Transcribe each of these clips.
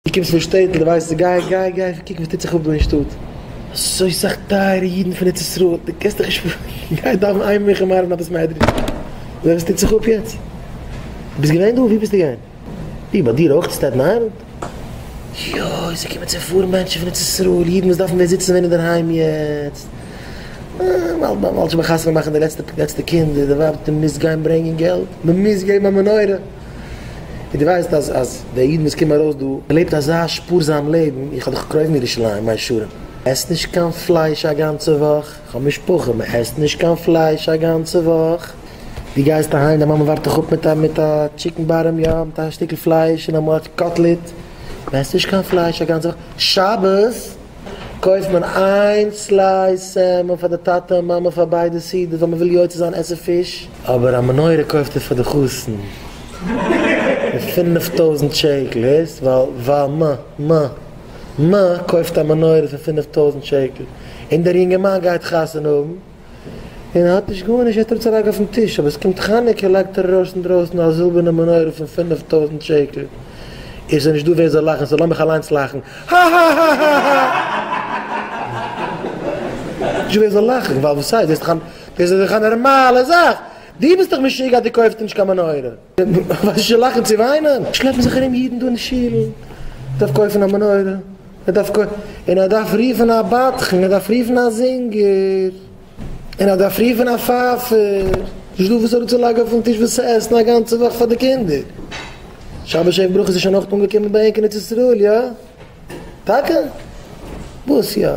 דו קומסט פון שטעטל, דו ווייסט, גיי, גיי, גיי קוקן וואס טוט זיך אפ דא אין שטאט, אזוי סאך טייערע אידן פון ארץ ישראל, דו קענסט דיך נישט פארשטעלן, גיי דאווען איין מנחה מעריב אין א בית מדרש, זיי וואס טוט זיך אפ יעצט, דו ביסט געווען דא? וואו ביסטו געווען? וואו, ביי דיר אויך אין סטעטן איילענד? יוי, ס'קומען צו פארן מענטשן פון ארץ ישראל, אידן וואס דארפן ווען זיצן ווען אינדערהיים יעצט, ווייל מ'האלט שוין ביי חתונה מאכן די לעצטע קינד, די ווייב האט מ'מוז גיין ברענגען געלט, מ'מוז געבן א מנורה. איר ווייסט אז אז די אידן וואס קומען ארויס דא לעבט אזא שפארזאם לעבן, איך האב דאך קרוב מירושלים, מיין שרון עסט נישט קיין פלייש א גאנצע וואך, איך האב משפחה מען עסט נישט קיין פלייש א גאנצע וואך, די גייסט אהיים דיין מאמע ווארט דיך אפ מיט א מיט א טשיקן בארעם יא מיט א שטיקל פלייש און אמאל א קאטלעט, מען עסט נישט קיין פלייש א גאנצע וואך, שבת. קויפט מען איין סלייס סעלמאן פאר די טאטע און מאמע פאר ביידע סעודות ווייל מען וויל יוצא זיין עסן פיש. אבער א מנורה קויפט ער פאר די חתן מיט פינף טויזנט שקל, הערסט? ווייל ווייל מ מ מ קויפט א מנורה פאר פינף טויזנט שקל און דער יונגערמאן גייט חתונה האבן. און ער האט נישט גארנישט ער טראגט זיין רייך אויפן טיש אבער עס קומט חנוכה לייגט ער ארויס אינדרויסן א זילבערנע מנורה פון פֿינף טויזנט שקל און ס'איז נישטא ווער זאל לאכן סאו לאמיך אליינס לאכן האהאהאהאהא נישטא ווער זאל לאכן ווייל וואס הייסט דאס איז דאך א נארמאלע זאך דו ביסט דאך משוגע אז דו קויפסט נישט קיין מנורה וואס איז שוין לאכן צו וויינען? שלעפן זיך ארום אידן דא אין שול, ער דארף קויפן א מנורה, ער דארף קויפן, און ער דארף רופן א בדחן, ער דארף רופן א זינגער, און ער דארף רופן א פייפער, נישט דא וואס אראפצולייגן אויפן טיש וואס צו עסן א גאנצע וואך פאר די קינדער. שבת שעה'ן ברכות איז שוין אויך אנגעקומען ביי ענק אין ארץ ישראל, יא? טאקע? וואס יא?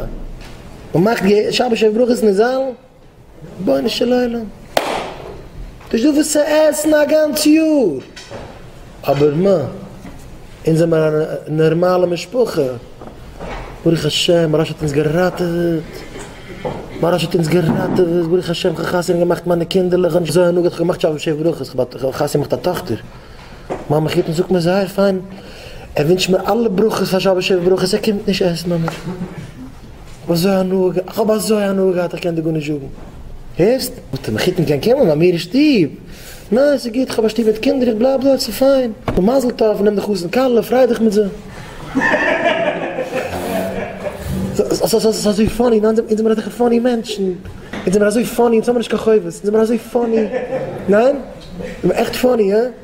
מ'מאכט שבת שעה'ן ברכות אין די זאלן? רבונו של עולם, נישט דא וואס צו עסן א גאנץ יאר, אבער מה, אונז זעמער א נערמאלע משפחה, ברוך השם מוהראש האט אונז געראטעוועט, מוהראש האט אונז געראטעוועט, ברוך השם כ'האב חתונה געמאכט מיינע קינדערלעך, כ'האב נישט אזוי הנהגה, כ'האב געמאכט שבע שבע ברכות, כ'האב חתונה געמאכט א טאכטער, מיין מחותן זאגט מיר זייער פיין, ער ווינטשט מיר אלע ברכות פאר שבע שבע ברכות, ער קומט נישט עסן ביי מיר. כ'האב אזוי הנאה געהאט, כ'האב אזוי הנאה געהאט איך קען דיר גארנישט זאגן, הערסט? האט ער מחותן קיין קעמל ביי מיר אין שטוב, ניין ס'איז גוט, כ'האב א שטוב מיט קינדער, איך בלייב דארט, ס'איז פיין, נו מזל טוב, נעם די חתן כלה, פריי דיך מיט זיי. ס'איז אזוי פאני, ניין אונז זעמער אזעלכע פאני מענטשן, אונז זעמער אזוי פאני, אונז האבן נישט קיין חובות, אונז זעמער אזוי פאני, ניין? זעמער עכט פאני, הא?